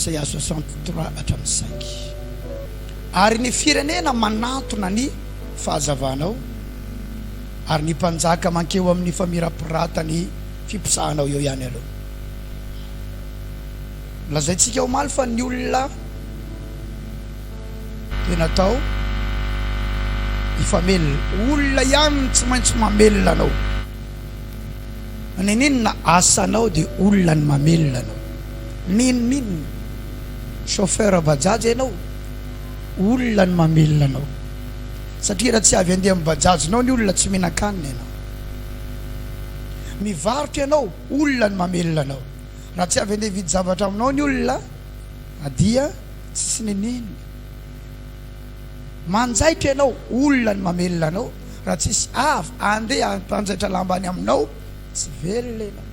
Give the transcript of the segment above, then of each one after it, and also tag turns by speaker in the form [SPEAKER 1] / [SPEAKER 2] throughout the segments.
[SPEAKER 1] Isaia soixante trois hatramin'ny cinq Ary ny firenena manantona ny fahazavanao, ary ny mpanjaka mankeo amin'ny famirapiratan'ny fiposahanao eo ihany aloha. Nolazaintsika omaly fa ny olona dia natao hifamelona. Olona ihany no tsy maintsy mamelona anao. Nenenina asanao de olona ny mamelona anao min min chauffeur bajaj enao olona ny mamelona anao satria ra tsy avy andeha am bajaj nao ny olona tsy minankanina enao mivarotra enao olona ny mamelona anao ra tsy avy andeha hividy zavatra aminao ny olona dia tsisy nenenina. Manjaitra ianao olona ny mamelona anao raha tsisy avy andeha hampanjaitra lamba any aminao tsy velona ianao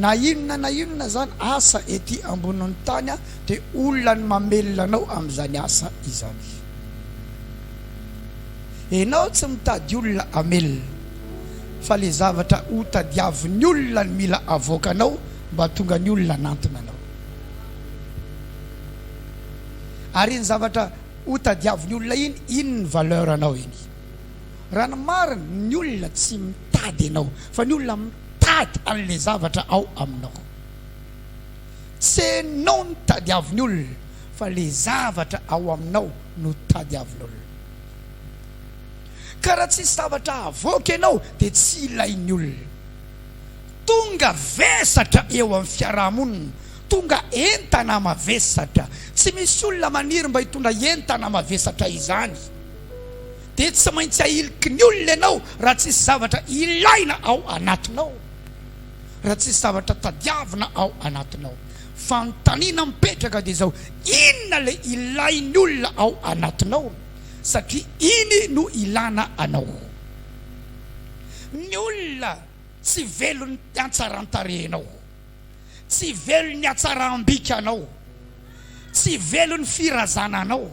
[SPEAKER 1] na inona na inona zany asa ety ambonin'ny tany a de olona ny mamelona anao amzany asa izany enao tsy mitady olona amelona fa le zavatra ho tadiavin'ny olona ny mila avoakanao mba tonga ny olona anantona anao. ary iny zavatra ho tadiavin'ny olona iny, iny ny valeur anao iny. Raha ny marina, ny olona tsy mitady anao, fa ny olona mitady an'ilay zavatra ao aminao. Tsy anao no tadiavin'ny olona, fa ilay zavatra ao aminao no tadiavin'olona. Ka raha tsisy zavatra havoaka ianao, dia tsy ilain'ny olona. Tonga vesatra eo amin'ny fiaraha-monina Tonga entana mavesatra. Tsy misy olona maniry mba hitondra entana mavesatra izany. Dia tsy maintsy ahiliky ny olona ianao raha tsisy zavatra ilaina ao anatinao, raha tsisy zavatra tadiavina ao anatinao. Fanontaniana mipetraka dia izao, inona ilay ilain'ny olona ao anatinao? Satria iny no ilana anao. Ny olona tsy velon'ny hatsaran-tarehinao. Tsy velon'ny hatsaram-bikanao. Tsy velon'ny firazananao.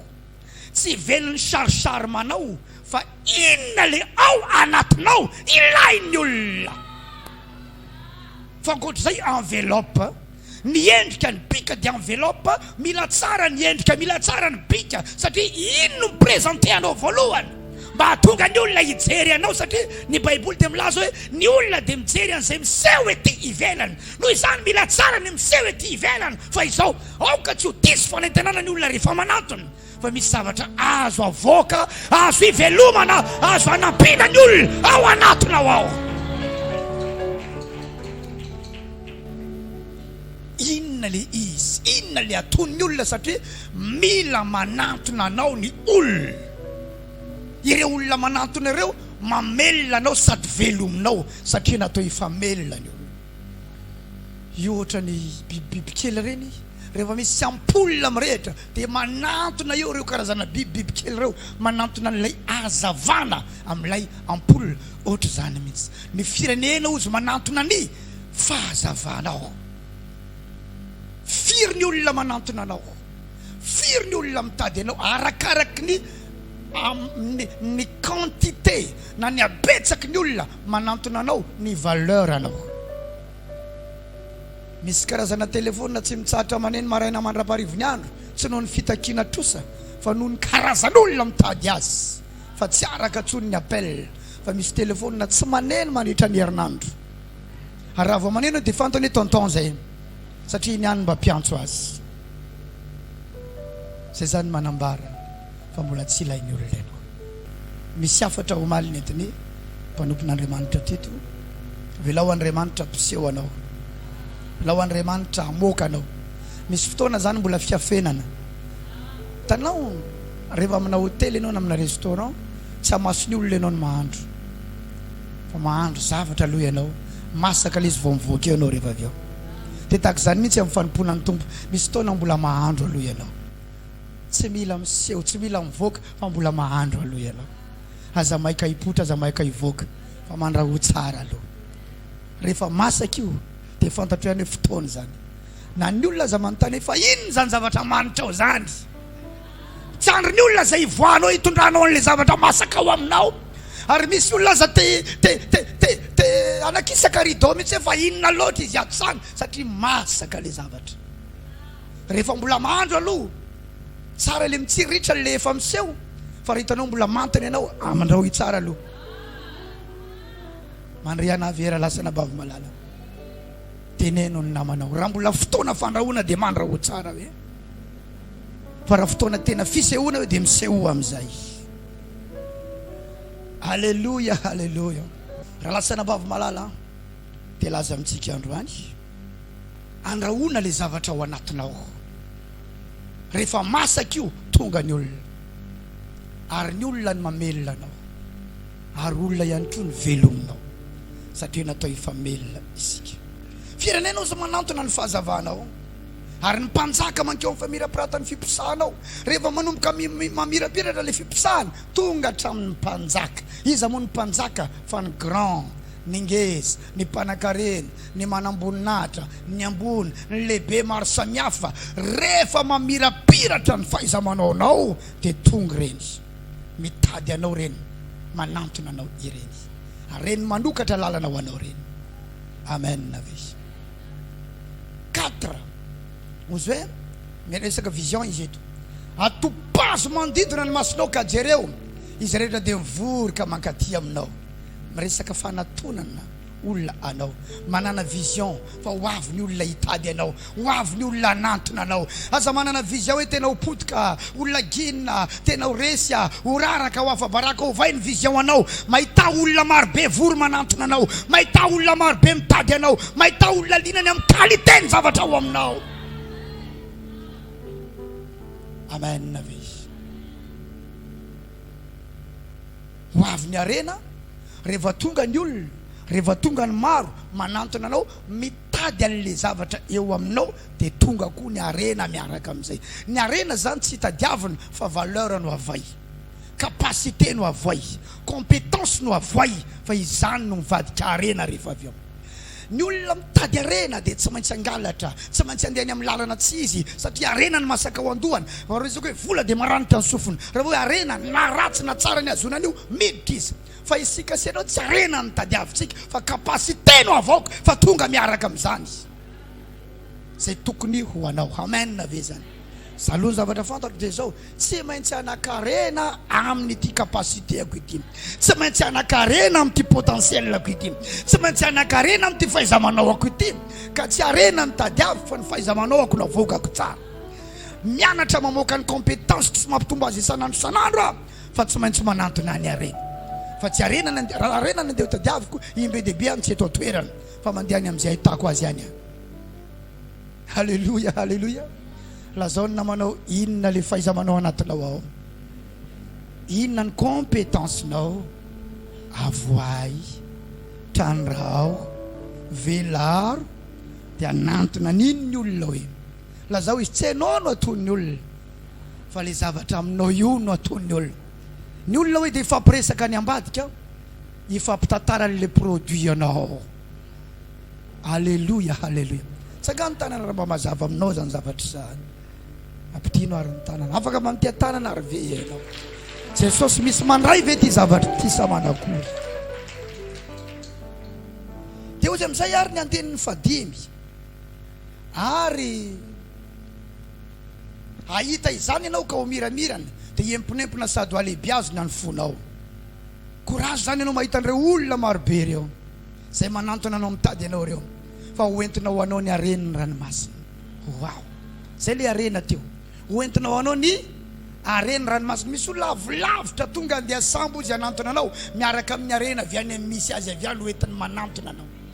[SPEAKER 1] Tsy velon'ny charcharme-nao. Fa inona ilay ao anatinao ilain'ny olona. Fa ankoatr'izay enveloppe. Ny endrika ny bika dia enveloppe. Mila tsara ny endrika, mila tsara ny bika satria iny no mi-presenter anao voalohany. mba hahatonga ny olona hijery anao, satria ny Baiboly dia milaza hoe ny olona dia mijery an'izay miseho ety ivelany. Noho izany, mila tsara ny miseho ety ivelany. Fa izao, aoka tsy ho diso fanentanana ny olona rehefa manantona fa misy zavatra azo avoaka, azo ivelomana, azo anampiana ny olona ao anatinao ao. Inona le izy? Inona le ataon'ny olona? Satria mila manantona anao ny olona. Ireo olona manantona ireo mamelona anao sady velominao satria natao hifamelona ny olona. Io ohatran'ny bibibiby kely ireny, rehefa misy ampola mirehitra dia manantona eo ireo karazana bibibiby kely ireo, manantona an'ilay hazavana amin'ilay ampola. Ohatr'izany mihitsy ny firenena hozy manantona ny fahazavanao. Firy ny olona manantona anao? Firy ny olona mitady anao? Arakaraky ny amin'ny ny quantité na ny habetsaky ny olona manantona anao ny valeur anao. Misy karazana telephone tsy mitsahatra maneno maraina mandra-paharivony andro tsy noho ny fitakiana trosa fa noho ny karazan'olona mitady azy fa tsy araka intsony ny appel fa misy telephone tsy maneno mandritra ny herinandro ary raha vao maneno dia fantany hoe tonton izay. satria iny ihany mba mpiantso azy. Izay izany manambara fa mbola tsy ilain'ny olon-draiko. Misy hafatra omaly nentin'ny mpanompon'Andriamanitra Tito, Avelao Andriamanitra hampiseho anao. Avelao Andriamanitra hamoaka anao. Misy fotoana izany mbola fiafenana. Tanao rehefa amina hotely ianao na amina restaurant, tsy hamaso ny olona ianao ny mahandro. Fa mahandro zavatra aloha ianao, masaka ilay izy vao mivoaka eo ianao rehefa avy eo. Dia tahaka izany mihitsy amin'ny fanompoana ny Tompo, misy fotoana mbola mahandro aloha ianao. Tsy mila miseho, tsy mila mivoaka fa mbola mahandro aloha ianao. Aza maika hipoitra, aza maika hivoaka fa mandrahoa tsara aloha. Rehefa masaka io dia fantatrao ihany hoe fotoana izany. Na ny olona aza manontany hoe fa inona izany zavatra amanitrao izany? Tsandry ny olona izay hivoahanao hitondranao an'ilay zavatra masaka ao aminao. Ary misy olona aza te te te te te hanakisaka rideau mihitsy hoe fa inona loatra izy ato izany satria masaka ilay zavatra. Rehefa mbola mahandro aloha tsara ilay mitsiriritra ilay efa miseho fa raha hitanao mbola manta ny anao amandrahoy tsara aloha. Mandre anà avy era lasa anabavy malala. Teneno ny namanao raha mbola fotoana fandrahoana dia mandrahoa tsara hoe. fa raha fotoana tena fisehoana eo dia misehoa amin'izay aleloia aleloia raha lasana bavy malala dia laza amintsika androany andrahoana le zavatra ao anatinao rehefa masaka io tonga ny olona ary ny olona ny mamelona anao ary olona ihany koa ny velominao satria natao hifamelona isika firenena ozy manantona ny fahazavanao Ary ny mpanjaka mankeo amin'ny famirapiratan'ny fiposahana ao. Rehefa manomboka mamirapiratra ilay fiposahana, tonga hatramin'ny mpanjaka. Iza moa ny mpanjaka fa ny grand, ny ngeza, ny mpanankarena, ny manamboninahitra, ny ambony, ny lehibe maro samihafa. Rehefa mamirapiratra ny fahaiza-manaonao dia tonga ireny. Mitady anao ireny, manantona anao ireny. Ary ireny manokatra lalana ho anao ireny. Amen ve? Quatre. Ozy hoe miresaka vision izy eto. Atopazo manodidina ny masonao ka jereo, izy rehetra dia mivory ka mankaty aminao. Miresaka fanatonana olona anao. Manana vision fa ho avy ny olona hitady anao, ho avy ny olona hanantona anao. Aza manana vision hoe tena ho potika. Olona gin a, tena ho resy a, ho raraka, ho afa-baraka, ovay ny vision anao, mahità olona maro be vory manantona anao, mahità olona maro be mitady anao, mahità olona liana ny amin'ny qualité ny zavatra ao aminao. Amen ve izy? Ho avy ny harena rehefa tonga ny olona, rehefa tonga ny maro manantona anao, mitady an'ilay zavatra eo aminao dia tonga koa ny harena miaraka amin'izay. Ny harena izany tsy tadiavina fa valeur no avoay, capacité no avoay, compétence no avoay fa izany no mivadika harena rehefa avy eo. Ny olona mitady harena dia tsy maintsy hangalatra, tsy maintsy handeha any amin'ny lalana tsy izy satria harena no masaka ao an-dohany. Raha hoe izao koa hoe vola dia maranitra ny sofiny. Raha hoe harena, na ratsy na tsara ny hahazoana an'io, miditra izy. Fa isika sy ianao tsy harena no tadiavintsika fa capacité no avaoka fa tonga miaraka amin'izany izy. zay tokony ho anao. Amen ve zany? Za aloha ny zavatra fantatro dia zao, tsy maintsy hanakarena amin'ity capacité-ako ity, tsy maintsy hanakarena amin'ity potentiel-ako ity, tsy maintsy hanakarena amin'ity fahaiza-manaoako ity, ka tsy harena ny tadiaviko fa ny fahaiza-manaoako no avoakako tsara. Mianatra mamoaka ny compétence-ko sy mampitombo azy isan'andro isan'andro aho fa tsy maintsy manantona ny harena fa tsy harena ny harena ny andeha ho tadiaviko, indro be dia be any tsy eto an-toerana Fa mandeha any amin'izay ahitako azy any aho. Haleloia, haleloia. Lazao ny namanao inona le fahaiza-manao anatinao ao. Inona ny compétence-nao. Avoahy, trandraho, velaro, dia anantona an'iny ny olona hoe lazao izy tsy hainao no ataon'ny olona fa le zavatra aminao io no ataon'ny olona. Ny olona hoe dia hifampiresaka any ambadika ao. Hifampitantara an'ilay produit ianao. Aleloia, aleloia. Tsangano ny tanana raha mba mazava aminao izany zavatra izany. Ampidino ary ny tanana. Afaka mandiha tanana ary ve ianao? Jesosy misy mandray ve ity zavatra ity sa manakory? Dia hozy amin'izay ary ny andinin'ny fadimy. Ary hahita izany ianao ka ho miramirana, dia hiemponempona sady ho alehibiazina ny fonao. Courage zany anao mahita an'ireo olona marobe ireo izay manantona anao mitady anao ireo fa ho entina ho anao ny haren'ny ranomasina wow zay le harena teo ho entina ho anao ny haren'ny ranomasina misy olona avy lavitra tonga andeha sambo izy hanantona anao miaraka amin'ny harena avy any amin'ny misy azy avy any ho entiny manantona anao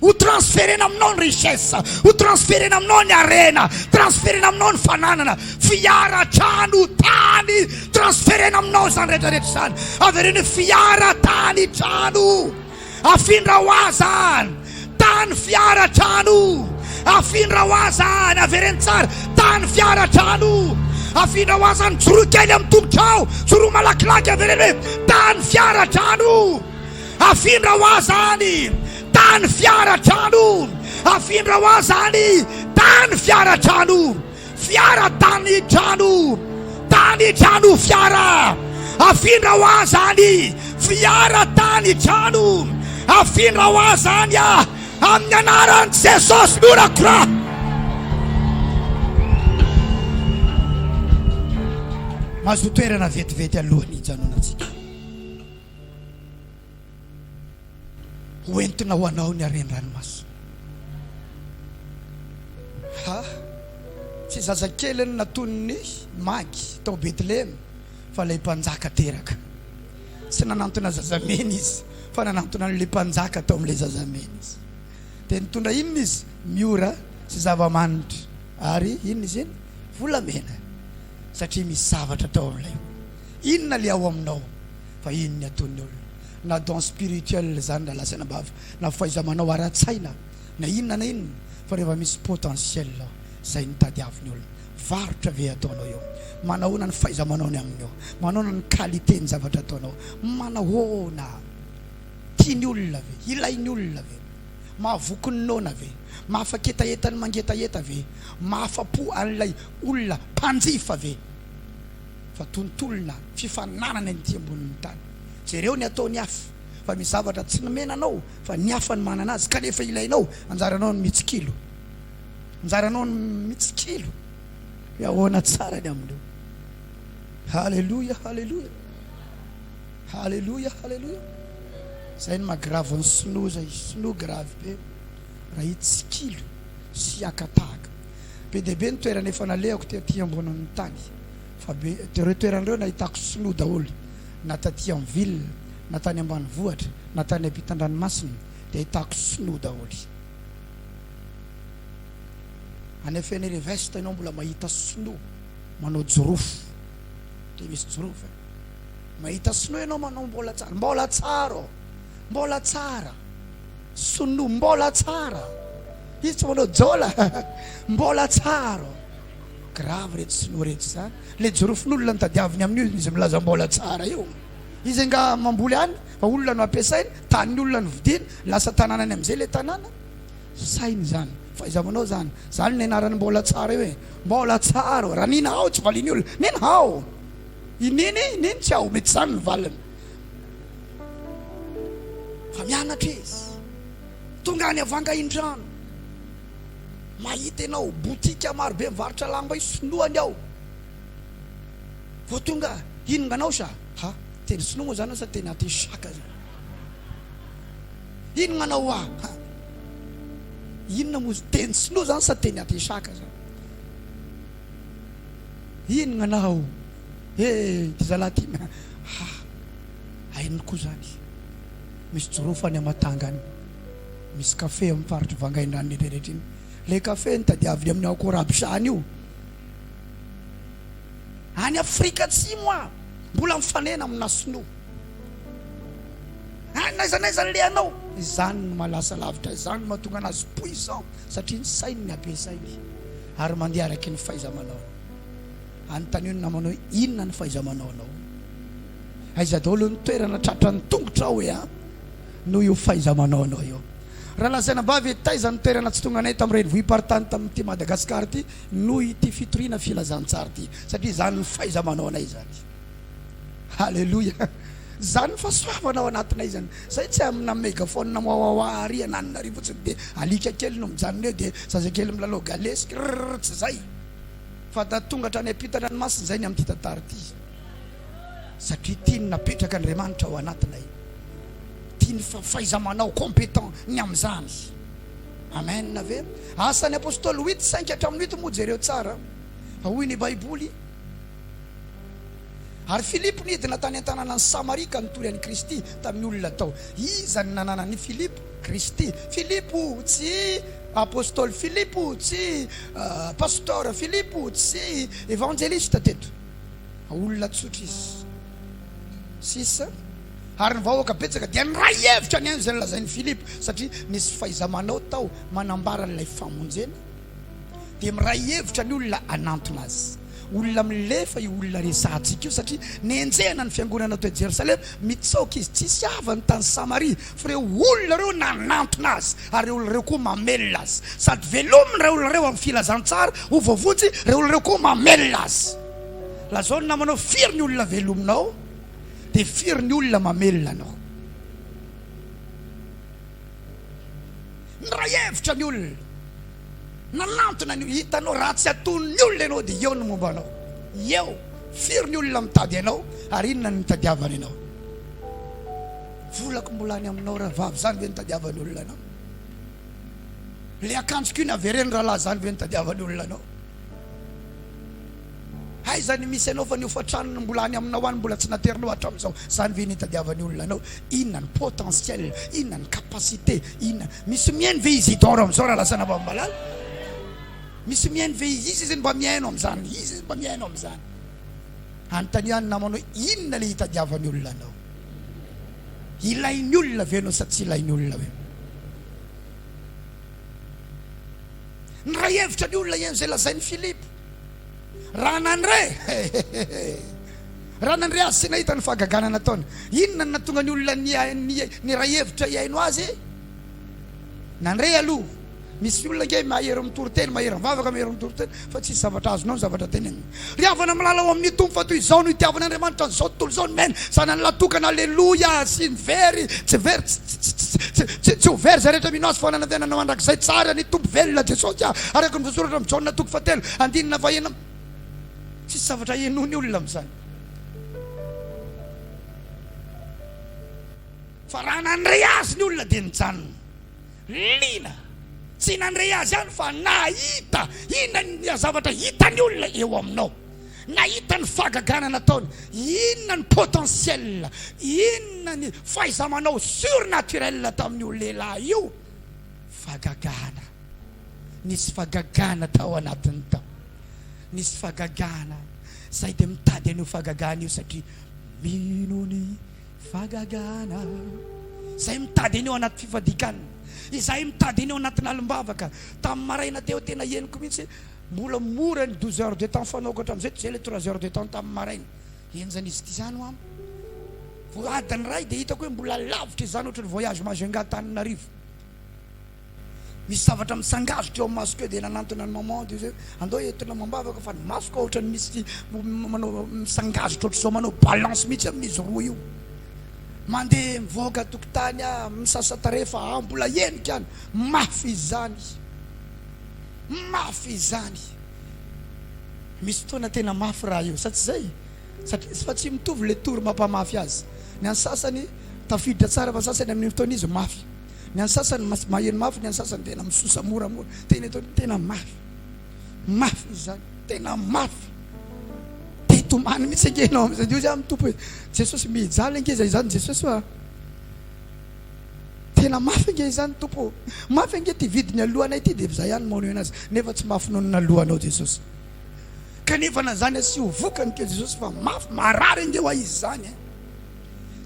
[SPEAKER 1] Ho transferena aminao ny richesse, ho transferena aminao ny harena, transferena aminao ny fananana, fiara, trano, tany, transferena aminao izany rehetra rehetra izany. Avereno hoe fiara, tany, trano. Afindra ho aza any. Tany, fiara, trano. Afindra ho aza any. Avereno tsara. Tany, fiara, trano. Afindra ho aza any. Joroa kely amin'ny tongotrao. Joroa malakilaky. Avereno hoe tany, fiara, trano. Afindra ho aza any tany fiara trano Afindra ho aza any tany fiara trano Fiara tany trano Tany trano fiara Afindra ho aza any fiara tany trano Afindra ho aza any ah Amin'ny anaran'i Jesosy no rakorako Mazotoerana vetivety alohan'ny hijanonantsika. Hoentina ho anao ny haren'ny ranomasina. Ha! Tsy zazakely ny natonin'ny magy tao Betlehema fa ilay mpanjaka teraka. Tsy nanantona zazamena izy fa nanantona an'ilay mpanjaka tao amin'ilay zazamena izy. Dia nitondra inona izy? Miora sy zava-manitra ary inona izy iny? Volamena satria misy zavatra tao amin'ilay Inona le ao aminao fa iny ny ataon'ny olona na don spirituel zany na lazaina am-bava na fahaiza-manao ara-tsaina na inona na inona fa rehefa misy potentiel zay no tadiavin'ny olona varotra ve ataonao eo manahoana ny fahaiza-manaony aminy eo manahoana ny qualité ny zavatra ataonao manahoana tiany olona ve ilainy olona ve mahavoky ny noana ve mahafaketaheta ny mangetaheta ve mahafa-po an'ilay olona mpanjifa ve fa tontolona fifaninanana inty ambonin'ny tany. Jereo ny ataon'ny hafa fa misy zavatra tsy nomena anao fa ny hafa no manana azy kanefa ilainao, anjaranao ny mitsikilo. Anjaranao ny mitsikilo hoe ahoana tsara ny amin'io. Haleloia, haleloia. Haleloia, haleloia. Zay ny magravy ny sinoa zay, sinoa gravy be raha hitsikilo sy hiakatahaka. Be dia be ny toerana efa nalehako tety ambonin'ny tany, fa be dia ireo toerana ireo nahitako sinoa daholo, na taty amin'ny ville, na tany ambanivohitra, na tany ampitan-dranomasina dia ahitako sinoa daholo. Any Fenere Vest ianao mbola mahita sinoa manao jirofo, ndry misy jirofo e! mahita sinoa ianao manao mbola tsara, mbola tsara ô! Mbola tsara sinoa mbola tsara izy tsy manao jola mbola tsara grave reto sinoa reto za le jorofon'olona nitadiaviny amin'ny olona izy milaza mbola tsara io izy anga mamboly any fa olona no ampiasainy tanin'ny olona no vidiny lasa tananany amin'izay le tanàna sainy zany fa iza manao zany zany ny anarany mbola tsara io e mbola tsara raha nina hao tsy valian'ny olona nina hao ininy ininy tsy ao mety zany ny valiny Fa mianatra izy. Tonga any Avanga Indrano. Mahita ianao boutique marobe mivarotra lamba io sinoa ny ao. Vao tonga inonganao sa? Ha, teny sinoa moa zany sa teny aty saka zany? Inonganao wa? Ha, inona moa teny sinoa zany sa teny aty saka zany? Inonganao? He ity zalahy ity na ha haininy koa zany misy jirofo any amatangany misy cafe am faritry vangaindrano rehetrarehetra iny le cafe ny tadiaviny aminy ao corabshany io any afrika atsimo a mbola mifanena amina sinoa any naiza naiza ny lehanao izany no malasa lavitra izany no matonga anazy puissant satria ny sainy ny abesainy ary mandeha araky ny fahaiza manaony Anontanio ny namana hoe, Inona ny fahaiza-manaonao? Aiza daholo ny toerana tratran'ny tongotrao hoe a noho io fahaiza-manaonao io? Raha lazaina mba avy hoe taiza ny toerana tsy tonganay tamin'ny renivohi-paritany tamin'ity Madagasikara ity noho ity fitoriana filazantsara ity, satria izany ny fahaiza-manaonay izany. Haleloia! Izany ny fahasoavana ao anatinay izany. Izay tsy amina megaphone wawawa ary ananina ary fotsiny dia alika kely no mijanona eo dia zazakely milalao galesy, rrrr, tsy izay. Fa da tonga hatrany ampitan-dranomasina izay ny amin'ity tantara ity satria tiany napetraka Andriamanitra ao anatinay, tiany fa fahaiza-manao compétent ny amin'izany. Amen ve? Asan'ny Apostoly huit cinq hatramin'ny huit moa jereo tsara fa hoy ny Baiboly, Ary Filipo nidina tany an-tanànan'i Samaria ka nitory an'i Kristy tamin'ny olona tao. Iza no nanana an'i Filipo? Kristy. Filipo, tsy Apostoly Filipo, tsy Pastora Filipo, tsy Evanjelista teto, fa olona tsotra izy. Sisa. Ary ny vahoaka betsaka dia niray hevitra nihaino izay nolazain'i Filipo, satria nisy fahaiza-manao tao manambara an'ilay famonjena. Dia miray hevitra ny olona hanantona azy. Olona milefa io olona resahantsika io satria nenjehina ny fiangonana teo Jerosalema, mitsaoka izy, tsisy havany tany Samaria, fa ireo olona ireo nanantona azy ary ireo olona ireo koa mamelona azy, sady velominy ireo olona ireo amin'ny filazantsara ho voavonjy, ireo olona ireo koa mamelona azy. Lazao ny namanao firy ny olona velominao dia firy ny olona mamelona anao. Miray hevitra ny olona. Nanantona an'io, hitanao raha tsy aton'ny olona ianao dia eo ny momba anao. Eo, firy ny olona mitady anao ary inona no nitadiavany anao. Volako mbola any aminao rahavavy, izany ve no nitadiavany olona anao? Le akanjoko iny avereno rahalahy, izany ve no nitadiavany olona anao? Aiza ny misy anao fa ny hofan-tranony mbola any aminao any mbola tsy naterinao hatramin'izao, zany ve ny hitadiavany olona anao? Inona ny potentiel, inona ny capacité, inona? Misy mihaino ve izy Idor amin'izao raha lazaina fa malala? Misy mihaino ve izy? Iza izy no mba mihaino amin'izany? Iza izy no mba mihaino amin'izany? Anontania ny namanao inona le hitadiavany olona anao? Ilainy olona ve anao sa tsy ilainy olona ve? Niray hevitra ny olona ihaino izay lazain'i Philippe. Raha nandre Raha nandre azy sy nahita ny fahagagana nataony, inona no nahatonga ny olona niray hevitra hihaino azy? Nandre aloha. Misy olona ange mahery mitory teny, mahery mivavaka, mahery mitory teny, fa tsisy zavatra azonao ny zavatra teneniny. Ry havana malala ao amin'ny Tompo, fa toy izao no itiavan'Andriamanitra an'izao tontolo izao, ny miaina zanany lahy tokana, aleloia, sy ny very, tsy very, tsy. Tsy ho very izay rehetra mino Azy, fa ho ananantenana ho andrakizay tsara ny Tompo velona Jesosy aho, araka ny voasoratra amin'i Jaona toko fahatelo andininy fahenina amby. Tsisy zavatra henoin'ny olona amin'izany. Fa raha nandre Azy ny olona dia nijanona. Liana. Tsy nandre Azy ihany fa nahita. Inona ny zavatra hitan'ny olona eo aminao? Nahita ny fahagagana nataony, inona ny potentiel, inona ny fahaiza-manao surnaturel tamin'io lehilahy io? Fahagagana. Nisy fahagagana tao anatiny tao. Nisy fahagagana. Zay dia mitady an'io fahagagana io satria mino ny fahagagana. Zay mitady an'io anaty fifadikanina. Izay mitady an'io anatin'ny alim-bavaka. Tamin'ny maraina teo tena henoko mihitsy Mbola mora ny douze heures de temps fanao ka hatramin'izay toy izay ilay trois heures de temps tamin'ny maraina. Henjana izy ity izany ho'am. Vao adiny iray dia hitako hoe mbola lavitra izany ohatry ny voyage Majunga Antananarivo. Misy zavatra mitsangazitra eo amin'ny masoko eo dia nanantona an'i maman dia hoe andao entina amam-bavaka fa ny masoko ohatry ny misy manao mitsangazitra ohatry izao manao balance mihitsy amin'izy roa io. Mandeha mivoaka an-tokotany aho misasa tarehy fa mbola henika any. Mafy izany. Mafy izany. Misy fotoana tena mafy raha io sa tsy izay? Satria fa tsy mitovy le tour mampamafy azy. Ny an'ny sasany tafiditra tsara fa ny sasany amin'iny fotoana izy mafy. Ny an'ny sasany maheno mafy ny an'ny sasany tena misosa moramora. Tena eto ny tena mafy. Mafy izany. Tena mafy. Te hitomany mihitsy ange ianao amin'izay. Hoy aho amin'ny Tompo hoe Jesosy mijaly ange izay izany Jesosy ô a. Tena mafy ange izany Tompo o! Mafy ange ity vidiny alohanay ity dia izaho ihany maneho anazy nefa tsy mafy noho ny naloanao Jesosy kanefa na izany asio vokany kely Jesosy fa mafy marary ange ho ahy izy izany eh!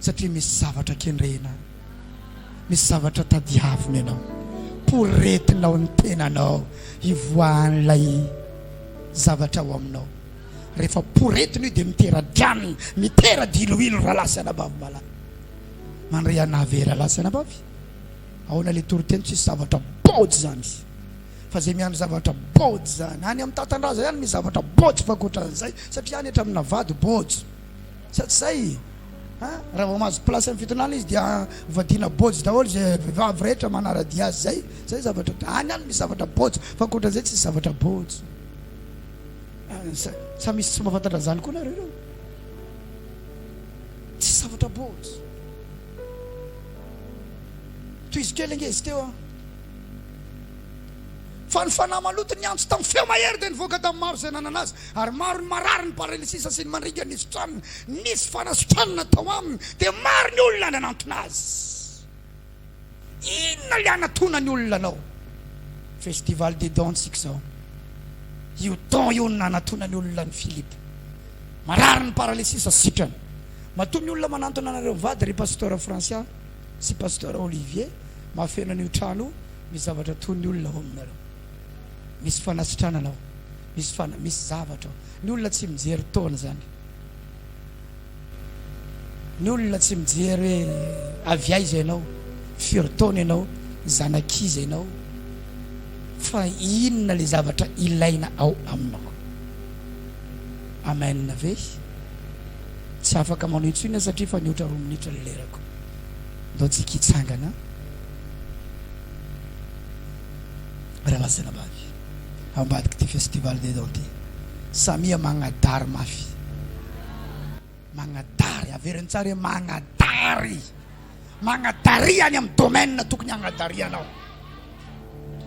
[SPEAKER 1] satria misy zavatra kendrena misy zavatra tadiavina ianao poretinao ny tenanao hivoahan'ilay zavatra ao aminao rehefa poretina io dia mitera-dranona mitera-diloilo rahalahy sy anabavy malahy mandray an'i Naveh Ralatsana ambavy? Ahoana le toriteny tsisy zavatra bôjy zany? Fa zay miandry zavatra bôjy zany any amin'ny tatandraza ihany misy zavatra bôjy fa ankoatran'izay satria any etra amina vady bôjy sa tsy zay? Ha? Raha vao mahazo place amin'ny fitondrana izy dia vadiana bôjy daholo izay vehivavy rehetra manara-dia azy zay zay zavatra any any misy zavatra bôjy fa ankoatran'izay tsisy zavatra bôjy sa misy tsy mahafantatra zany koa nareo reo? Tsy zavatra bols. Tohizo kely ange izy teo an. Fa ny fanahy maloto niantso tamin'ny feo mahery dia nivoaka tamin'ny maro izay nanana azy, ary maro ny marary, ny paralysisa sy ny mandringa nisotranina. Nisy fanasotranana tao aminy, dia maro ny olona nanantona azy. Inona le anatona ny olona anao? Festival des dons tsika zao. Io don io no nanatona ny olona an'i Philippe. Marary ny paralysis sitrana. Matoa ny olona manantona anareo mivady ry Pasteur Francia sy Pasteur Olivier mahafeno an'io trano io misy zavatra toy ny olona ao aminareo. Misy fanasitranana ao. Misy fana, misy zavatra ao. Ny olona tsy mijery taona zany. Ny olona tsy mijery hoe avy aiza ianao, firy taona ianao, zanak'iza ianao fa inona ilay zavatra ilaina ao aminao. Amen ve? Tsy afaka manao intsony aho satria efa nihoatra roa minitra ny lerako. Ndao tsika hitsangana. Ranasenabavy ao ambadik'ity festival des dentiers samia magnadary mafy magnadary averiny tsara hoe magnadary magnadaria any amin'ny domaine tokony hagnadarianao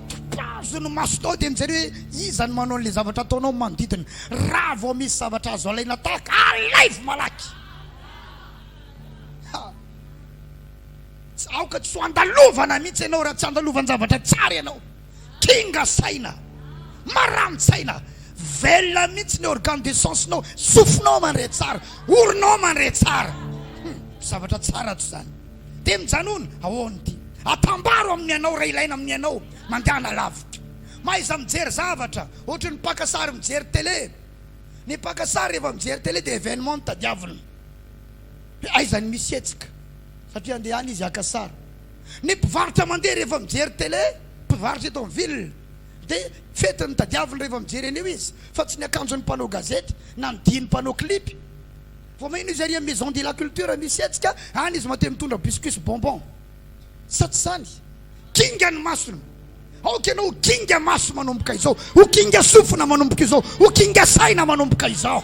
[SPEAKER 1] topazo ny masonao dia mijery hoe iza no manao an'ilay zavatra ataonao ny manodidina raha vao misy zavatra azo alaina tahaka alaivo malaky Tsy aoka tsy ho andalovana mihitsy ianao raha tsy andalovanjavatra tsara ianao. Kinga saina. Marany tsaina. Velona mihitsy ny organe de sens-nao. Sofinao mandre tsara. Oronao mandre tsara. Hum, zavatra tsara ato izany. Dia mijanona, ahoana ity? Atambaro amin'ny anao raha ilaina amin'ny anao. Mandehana lavitra. Mahaiza mijery zavatra, ohatry ny mpaka sary mijery télé. Ny mpaka sary rehefa mijery télé dia événement no tadiaviny. hoe aiza ny misy hetsika satria andeha any izy haka sary. Ny mpivarotra mandeha rehefa mijery tele, mpivarotra eto amin'ny ville, dia fety ny tadiaviny rehefa mijery an'io izy fa tsy ny akanjon'ny mpanao gazety na ny dihin'ny mpanao clip. Vao mainka no izy ary amin'ny maison de la culture misy hetsika, any izy matetika mitondra biscuits sy bonbons. sa tsy izany? Kinga ny masony. Aoka ianao ho kinga maso manomboka izao, ho kinga sofina manomboka izao, ho kinga saina manomboka izao.